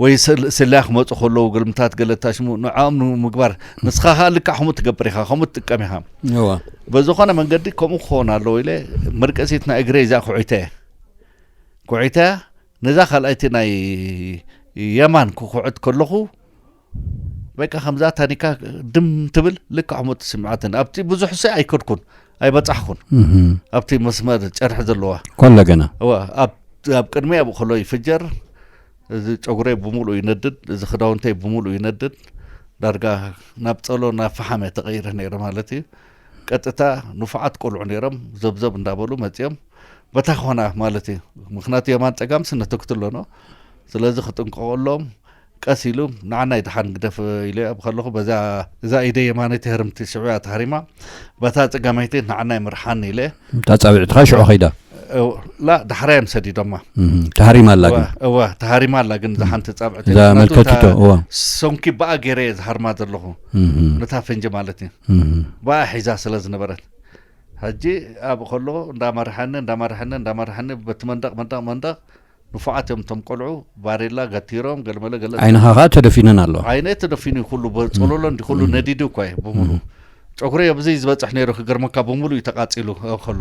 Speaker 2: ወይ ስለያ ክመፁ ከለዉ ግልምታት ገለታ ሽሙ ንዕኦም ንምግባር ንስኻ ከዓ ልክዕ ከምኡ ትገብር ኢኻ ከምኡ ትጥቀም ኢኻ
Speaker 1: በዝኾነ መንገዲ
Speaker 2: ከምኡ ክኸውን ኣለዎ ኢለ መርቀሲት ናይ እግረይ እዚኣ ኩዒተ ኩዒተ ነዛ ካልኣይቲ ናይ የማን ክኩዕት ከለኹ በቃ ከምዛ ታኒካ ድም ትብል ልክዕ ከምኡ ትስምዓትን ኣብቲ ብዙሕ ሰ ኣይከድኩን ኣይበጻሕኩን ኣብቲ መስመር ጨርሒ ዘለዋ ኮለ ገና
Speaker 1: ኣብ
Speaker 2: ቅድሚ ኣብኡ ከሎ ይፍጀር እዚ ጨጉረይ ብምሉእ ይነድድ እዚ ክዳውንተይ ብምሉእ ይነድድ ዳርጋ ናብ ጸሎ ናብ ፈሓመ ተቐይረ ነይረ ማለት እዩ ቀጥታ ንፉዓት ቆልዑ ነይሮም ዘብዘብ እንዳበሉ መጺኦም በታ ኮና ማለት እዩ ምክንያቱ የማን ጸጋም ስነተክቱ ኣለኖ ስለዚ ክጥንቀቀሎም ቀስ ኢሉ ንዓናይ ድሓን ግደፍ ኢለ ኣብ ከለኹ በዛ እዛ ኢደ የማነይቲ ህርምቲ ሽዑያ ተሃሪማ በታ ጸጋመይቲ ንዓናይ ምርሓን ኢለ እታ ጻዊዕትኻ ሽዑ
Speaker 1: ከይዳ ላ
Speaker 2: ዳሕራዮም ሰዲዶማ ተሃሪማ ኣላ
Speaker 1: ግን እወ ተሃሪማ
Speaker 2: ኣላ ግን እዛ ሓንቲ ጻብዕቲ እዛ መልከቲቶ
Speaker 1: እወ ሰንኪ በኣ
Speaker 2: ገይረ እየ ዝሃርማ ዘለኹ ነታ ፈንጂ ማለት እዩ በኣ ሒዛ ስለ ዝነበረት ሕጂ ኣብ ከሎ እንዳመርሐኒ እንዳመርሐኒ እንዳመርሐኒ በቲ መንደቕ መንደቕ መንደቕ ንፉዓት እዮም እቶም ቆልዑ ባሬላ ገቲሮም ገለመለ ገለ ዓይንኻ ከኣ ተደፊነን
Speaker 1: ኣለዋ ዓይነይ ተደፊኑ እዩ ኩሉ
Speaker 2: ጸሎሎ እንዲ ኩሉ ነዲዱ እኳ እዩ ብምሉ ጨጉረይ ኣብዚ ዝበጽሕ ነይሩ ክገርመካ ብምሉ እዩ ተቃጺሉ ከሎ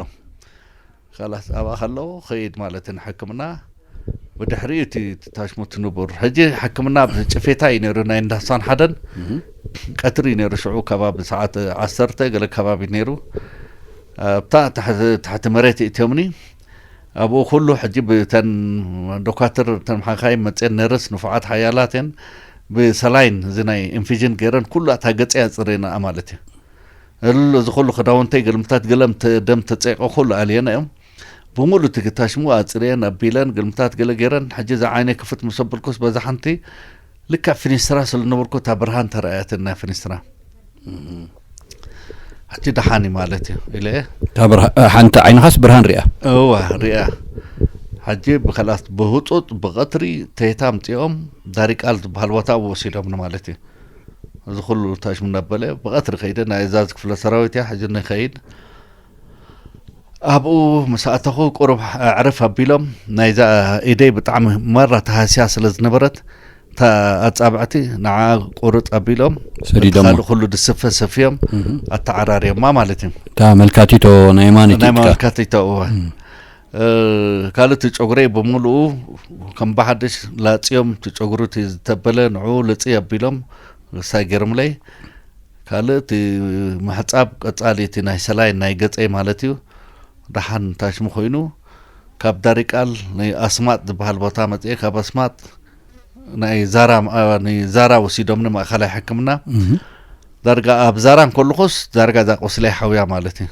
Speaker 2: ካላት ኣብኣ ከለዉ ከይድ ማለት ንሕክምና ብድሕሪ እቲ ታሽሙ ትንቡር ሕጂ ሕክምና ጭፌታ እዩ ነይሩ ናይ እንዳሳን ሓደን ቀትሪ እዩ ነይሩ ሽዑ ከባቢ ሰዓት ዓሰርተ ገለ ከባቢ ነይሩ ኣብታ ትሕቲ መሬት እትዮምኒ ኣብኡ ኩሉ ሕጂ ብተን ዶካትር ተን ሓካይም መጽየን ነርስ ንፉዓት ሓያላት እየን ብሰላይን እዚ ናይ ኢንፊዥን ገይረን ኩላ እታ ገጸይ ኣጽሪነኣ ማለት እዩ እል እዚ ኩሉ ክዳውንተይ ግልምታት ገለም ደም ተጸይቀ ኩሉ ኣልየነ እዮም ብምሉእ እቲ ግታሽሙ ኣጽርየን ኣቢለን ግልምታት ገለ ገይረን ሕጂ እዛ ዓይነይ ክፍት ምስ ኣበልኩስ በዛ ሓንቲ ልክዕ ፊኒስትራ ስለ ዝነበርኩ እታ ብርሃን ተረኣያትን ናይ ፊኒስትራ ሕጂ ደሓን እዩ ማለት እዩ ኢለ ሓንቲ
Speaker 1: ዓይንኻስ ብርሃን ሪኣ እዋ ሪኣ
Speaker 2: ሕጂ ብከልኣት ብህፁፅ ብቐትሪ ተይታ ኣምፂኦም ዳሪቃል ዝበሃል ቦታ ኣብኡ ወሲዶምኒ ማለት እዩ እዚ ኩሉ ታሽሙ እናበለ ብቐትሪ ከይደ ናይ እዛዝ ክፍለ ሰራዊት እያ ሕጂ ንኸይድ ኣብኡ ምስ ኣተኹ ቁሩብ ኣዕርፍ ኣቢሎም ናይዛ ኢደይ ብጣዕሚ ማራ ተሃስያ ስለ ዝነበረት እታ ኣጻብዕቲ ንዓኣ ቁርጽ ኣቢሎም እቲ ሰዲዶማ ካልእ ኩሉ
Speaker 1: ድስፈ
Speaker 2: ሰፍዮም እህ። ኣተዓራርዮማ ማለት እዩ እታ መልካቲቶ
Speaker 1: ናይ የማነይቲ ናይ ኢድካ መመልከቲቶ
Speaker 2: እወ እ፣ ካልእ እቲ ጨጉረይ ብምሉኡ ከም ብሓድሽ ላጽዮም እቲ ጨጉሩ እቲ ዝተበለ ንዕኡ ልጽይ ኣቢሎም ሳይ ገይሮምለይ ካልእ እቲ ምሕጻብ ቀጻሊ እቲ ናይ ሰላይን ናይ ገጸይ ማለት እዩ ደሓን ታሽሙ ኮይኑ ካብ ዳሪቃል ናይ ኣስማጥ ዝበሃል ቦታ መጽኤ ካብ ኣስማጥ ናይ ዛራ ንዛራ ወሲዶም ንማእኸላይ ሕክምና ዳርጋ ኣብ ዛራ እንከለኹስ ዳርጋ እዛ ቆስለይ ሓውያ ማለት እዩ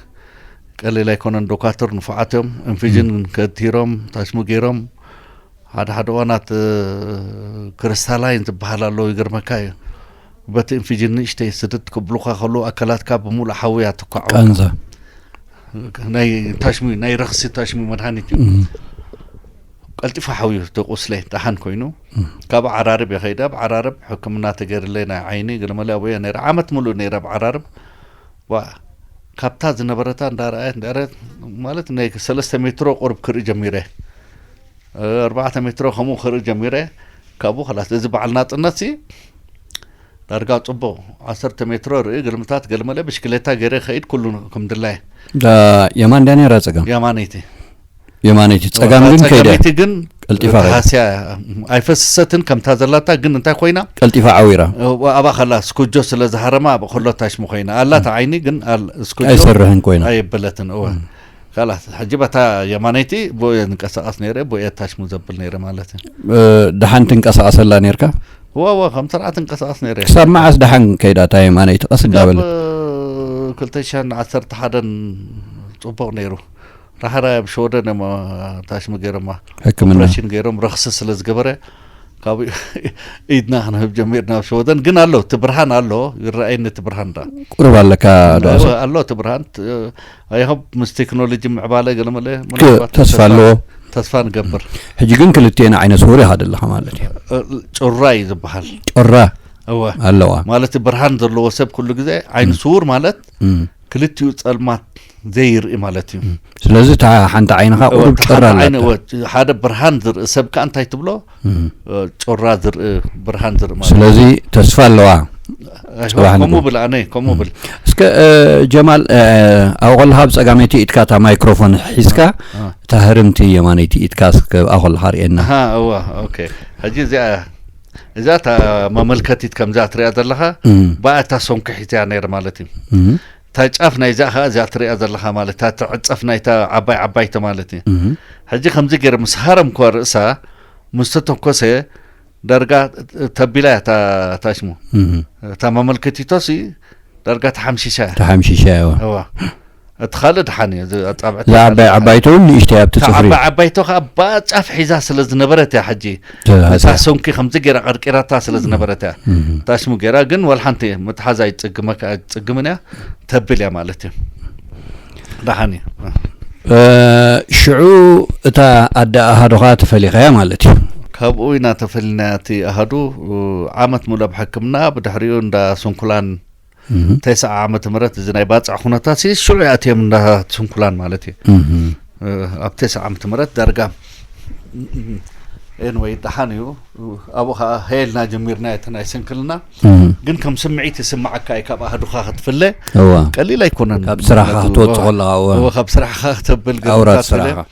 Speaker 2: ቀሊል ኣይኮነን ዶካትር ንፉዓት እዮም እንፍጅን ከቲሮም ታሽሙ ገይሮም ሓደ ሓደ እዋናት ክርስታላይን ዝበሃል ኣለዎ ይገርመካ እዩ በቲ እንፍጅን ንእሽተይ ስድት ክብሉካ ከሉ ኣካላትካ ብምሉእ ሓውያ ትኳዖ
Speaker 1: ናይ
Speaker 2: ታሽሙ ናይ ረኽሲ ታሽሙ መድሃኒት እዩ ቀልጢፉ ሓውዩ ተቁስለ ዳሓን ኮይኑ ካብ ዓራርብ እየ ከይደ ኣብ ዓራርብ ሕክምና ተገይርለይ ናይ ዓይኒ ገለመለ ኣብኡ እየ ነይረ ዓመት ሙሉእ ነይረ ኣብ ዓራርብ ካብታ ዝነበረታ እንዳረኣየት እንዳረኣየት ማለት ናይ ሰለስተ ሜትሮ ቁርብ ክርኢ ጀሚረ ኣርባዕተ ሜትሮ ከምኡ ክርኢ ጀሚረ ካብኡ ከላስ እዚ በዓል ናጽነት ሲ ዳርጋ ጽቡቕ ዓሰርተ ሜትሮ ርኢ ግልምታት ገልመለ ብሽክሌታ ገይረ ከይድ ኩሉ ከም ድላየ
Speaker 1: የማን ዳኔራ ጸገም የማነይቲ የማነይቲ ጸጋም ግን ከይደ ጸጋሚቲ ግን ቀልጢፋ
Speaker 2: ከይዳ። ሃስያ እያ። ኣይፈስሰትን ከምታ ዘላታ ግን እንታይ ኮይና ቀልጢፋ ዓዊራ
Speaker 1: ኣብኣ ከላ
Speaker 2: ስኩጆ ስለ ዝሃረማ ኣብ ከሎ ታሽሙ ኮይና ኣላት ዓይኒ ግን ኣል- ስኩጆ ኣይሰርሕን ኮይና
Speaker 1: ኣይበለትን እወ
Speaker 2: ካላት ሕጂ በታ የማነይቲ ብኡ እየ ዝንቀሳቐስ ነይረ ብኡ እየ ታሽሙ ዘብል ነይረ ማለት እዩ እ፣ ደሓን
Speaker 1: ትንቀሳቐሰላ ነርካ ዋዋ ከም
Speaker 2: ስርዓት እንቀሳቐስ ነይረ ክሳብ መዓስ ደሓን
Speaker 1: ከይዳ እታ የማነይቲ ቀስ እንዳበለ ክልተ ሽሕን ዓሰርተ
Speaker 2: ሓደን ፅቡቕ ነይሩ ራህራይ ኣብ ሸወደን እዮም ታሽሚ ገይሮማ ሕክምና ኦፕሬሽን
Speaker 1: ገይሮም ረኽሲ
Speaker 2: ስለ ዝገበረ ካብ ኢድና ክንህብ ጀሚርና ኣብ ሸወደን ግን ኣሎ እቲ ብርሃን ኣሎ ይረኣየኒ እቲ ብርሃን ዳ ቁርብ ኣለካ
Speaker 1: ዶስ እወ፣ ኣሎ እቲ ብርሃን
Speaker 2: ኣይሆብ ምስ ቴክኖሎጂ ምዕባለ ገለመለ ምናልባት ተስፋ ኣለዎ
Speaker 1: ተስፋ ንገብር
Speaker 2: ሕጂ ግን ክልቴና
Speaker 1: ዓይነ ስውር ኢኻ ዘለኻ ማለት እዩ እ፣ ጩራ እዩ
Speaker 2: ዝበሃል ጮራ
Speaker 1: እወ ኣለዋ
Speaker 2: ማለት ብርሃን ዘለዎ ሰብ ኩሉ ግዜ ዓይኒ ስውር ማለት እም። ክልቲኡ ጸልማት ዘይርኢ ማለት እዩ ስለዚ እታ
Speaker 1: ሓንቲ ዓይንኻ ቁሩብ ጮራ ሓደ
Speaker 2: ብርሃን ዝርኢ ሰብ ከዓ እንታይ ትብሎ ጮራ ዝርኢ ብርሃን ዝርኢ ማለት ስለዚ ተስፋ
Speaker 1: ኣለዋ ከምኡ
Speaker 2: ብል ኣነ ከምኡ ብል እስከ
Speaker 1: ጀማል ኣብኡ ከለካ ብ ፀጋመይቲ ኢድካ እታ ማይክሮፎን ሒዝካ እታ ህርምቲ የማነይቲ ኢድካ ኣብኣ ከለካ ርእየና እዋ ኦኬ
Speaker 2: ሕጂ እዚኣ እዛ እታ መመልከቲት ከምዛ ትሪያ ዘለካ ብኣ እታ ሰንኩሒት እያ ነይረ ማለት እዩ እታ ጫፍ ናይዚኣ ከኣ እዚኣ ትሪኣ ዘለኻ ማለት እታ ትዕጸፍ ናይታ ዓባይ ዓባይቲ ማለት እዩ ሕጂ ከምዚ ገይረ ምስ ሃረምኳ ርእሳ ምስ ተተኮሰ ዳርጋ ተቢላ እያ እታ ሽሙ እታ መመልከቲቶሲ ዳርጋ ተሓምሺሻ እያ ተሓምሺሻ እያ እቲ ካልእ ድሓን እዩ ኣጻብዕቲ ዓባይ ዓባይቶ እውን
Speaker 1: ንእሽተይ ኣብቲ ጽፍሪ ዓባይ ዓባይቶ ከዓ
Speaker 2: ባጫፍ ሒዛ ስለ ዝነበረት እያ ሕጂ ነታ ሰንኪ ከምዚ ገይራ ቀርቂራታ ስለ ዝነበረት እያ እታ ሽሙ ገይራ ግን ወላ ሓንቲ ምትሓዝ ኣይፅግምን እያ ተብል እያ ማለት እዩ ደሓን እዩ
Speaker 1: ሽዑ እታ ኣደ ኣሃዱኻ ተፈሊኸያ ማለት እዩ ካብኡ ኢና
Speaker 2: ተፈሊና እቲ ኣሃዱ ዓመት ሙሉ ኣብ ሕክምና ብድሕሪኡ እንዳ ስንኩላን ተስዓ ዓመተ ምህረት እዚ ናይ ባፅዕ ኩነታት ሲ ሽዑ ኣትዮም እንዳ ስንኩላን ማለት እዩ ኣብ ተስዓ ዓመተ ምህረት ዳርጋ ኤንወይ ደሓን እዩ ኣብኡ ከዓ ሀየልና ጀሚርና እቲ ናይ ስንክልና ግን ከም ስምዒት ይስማዓካ እዩ ካብ ኣህዱኻ ክትፍለ ቀሊል ኣይኮነን ካብ ስራሕካ ክትወፅኦ
Speaker 1: ኣለካ ካብ ስራሕካ
Speaker 2: ክተብል ኣውራት ስራሕካ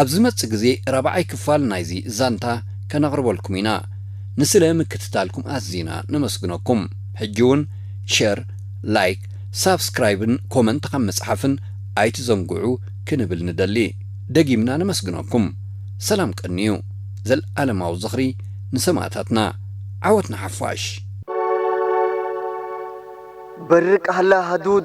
Speaker 1: ኣብ ዝመጽእ ግዜ ራብዓይ ክፋል ናይዚ ዛንታ ከነቕርበልኩም ኢና። ንስለ ምክትታልኩም ኣዚና ነመስግነኩም። ሕጂ ውን ሸር፣ ላይክ፣ ሳብስክራይብን ኮመንት ካብ ምጽሓፍን ኣይትዘንግዑ ክንብል ንደሊ። ደጊምና ነመስግነኩም። ሰላም ቀንዩ። ዘልኣለማዊ ዝኽሪ ንሰማእታትና። ዓወት ንሓፋሽ!
Speaker 3: በርቅ ሃላ ሃዱድ!